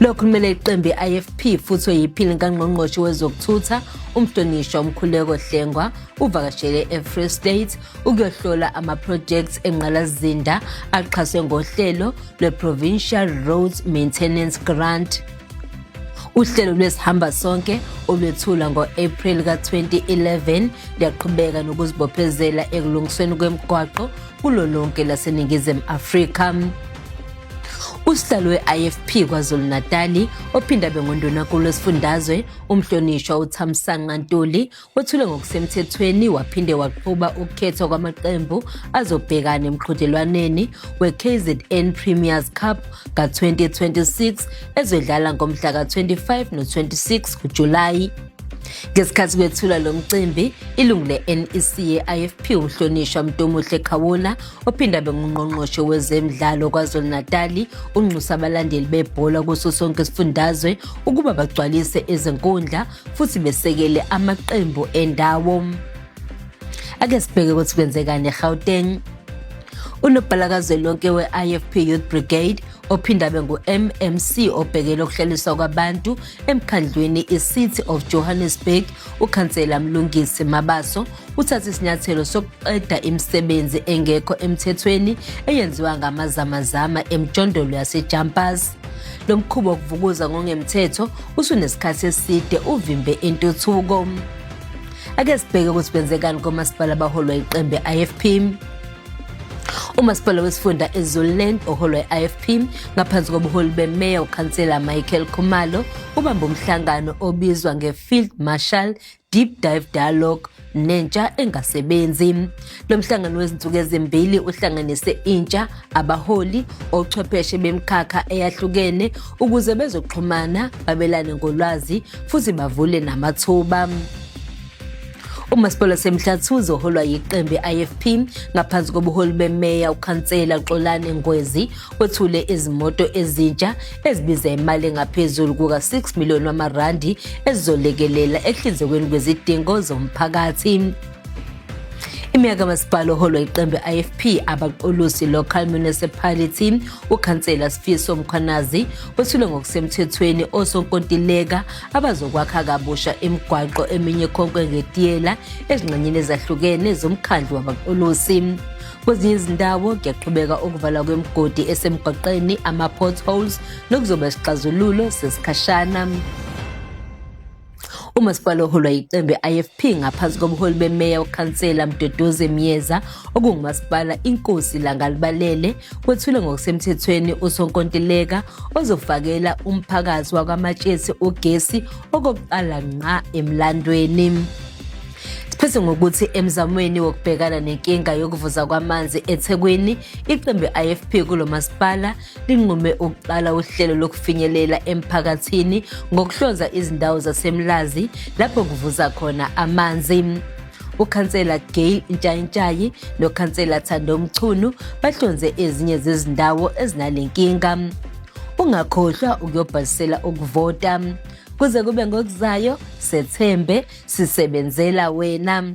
Lo khulumela iqembu i-IFP futhi oyiphini kangqongqoshe wezokuthutha umhlonishwa umkhuleko Hlengwa uvakashele e-Free State ukuyohlola ama-projects engqalazinda axhaswe ngohlelo lwe-Provincial Roads Maintenance Grant uhlelo lwesihamba sonke olwethula ngo-April ka-2011 luyaqhubeka nokuzibophezela ekulungisweni kwemigwaqo kulo lonke laseNingizimu Afrika. Usihlalo we-IFP KwaZulu-Natali ophinde abe ngundunankulu wesifundazwe umhlonishwa uThamsanqa Ntuli wethule ngokusemthethweni waphinde waqhuba ukukhethwa kwamaqembu azobhekana emqhudelwaneni we-KZN Premiers Cup ka-2026 ezodlala ngomhla ka-25 no-26 kuJulayi Ngesikhathi kwethula lo mcimbi, ilungu le-NEC ye-IFP uMhlonishwa Mntomuhle Khawula ophinde abe ngungqongqoshe wezemidlalo KwaZulu-Natali unxusa abalandeli bebhola kuso sonke isifundazwe ukuba bagcwalise izinkundla futhi besekele amaqembu endawo. Ake sibheke ukuthi kwenzekani eGauteng. Unobhala kazwelonke we-IFP Youth Brigade ophinde abe ngu-mmc obhekele ukuhlaliswa kwabantu emkhandlwini i-city of johannesburg ukhansela mlungisi mabaso uthathe isinyathelo sokuqeda imisebenzi engekho emthethweni eyenziwa ngamazamazama emjondolo yasejumpers lo mkhuba wokuvukuza ngongemthetho usunesikhathi eside uvimbe intuthuko ake sibheke ukuthi kwenzekani komasipala abaholwa iqembu i-ifp umasipala wesifunda ezululand oholwa i-ifp ngaphansi kobuholi bemeya ukhansela michael khumalo ubamba umhlangano obizwa nge-field marshal deep dive dialogue nentsha engasebenzi lo mhlangano wezinsuku ezimbili uhlanganise intsha abaholi ochwepheshe bemkhakha eyahlukene ukuze bezoxhumana babelane ngolwazi futhi bavule namathuba umasipala wasemhlathi uzoholwa yiqembu i-ifp ngaphansi kobuholi bemeya ukhansela xolane ngwezi wethule izimoto ezintsha ezibiza imali engaphezulu kuka-6 miliyoni wamarandi ezizolekelela ekuhlinzekweni kwezidingo zomphakathi imeya kamasipala oholwa iqembu i-ifp abaqolusi local municipality ukhansela sifiso mkhwanazi wethule ngokusemthethweni osonkontileka abazokwakha kabusha imigwaqo eminye konke ngetiyela ezingxenyeni ezahlukene zomkhandlu wabaqolosi kwezinye izindawo kuyaqhubeka ukuvala kwemigodi esemgwaqeni ama-potholes nokuzoba isixazululo sesikhashana umasipala oholwa yiqembu i-ifp ngaphansi kobuholi bemeya ukhansela mdodoze myeza okungumasipala inkosi langalibalele kwethule ngokusemthethweni usonkontileka ozofakela umphakathi wakwamatshesi ugesi okokuqala nqa emlandweni Siphethe ngokuthi emzamweni wokubhekana nenkinga yokuvuza kwamanzi eThekwini, iqembu IFP kulo masipala linqume ukuqala uhlelo lokufinyelela emphakathini ngokuhlonza izindawo zaseMlazi lapho kuvuza khona amanzi. ukhansela Gail Ntshayintshayi nokhansela Thando Mchunu bahlonze ezinye zezindawo ezinalenkinga ungakhohlwa ukuyobhalisela ukuvota kuze kube ngokuzayo sethembe sisebenzela wena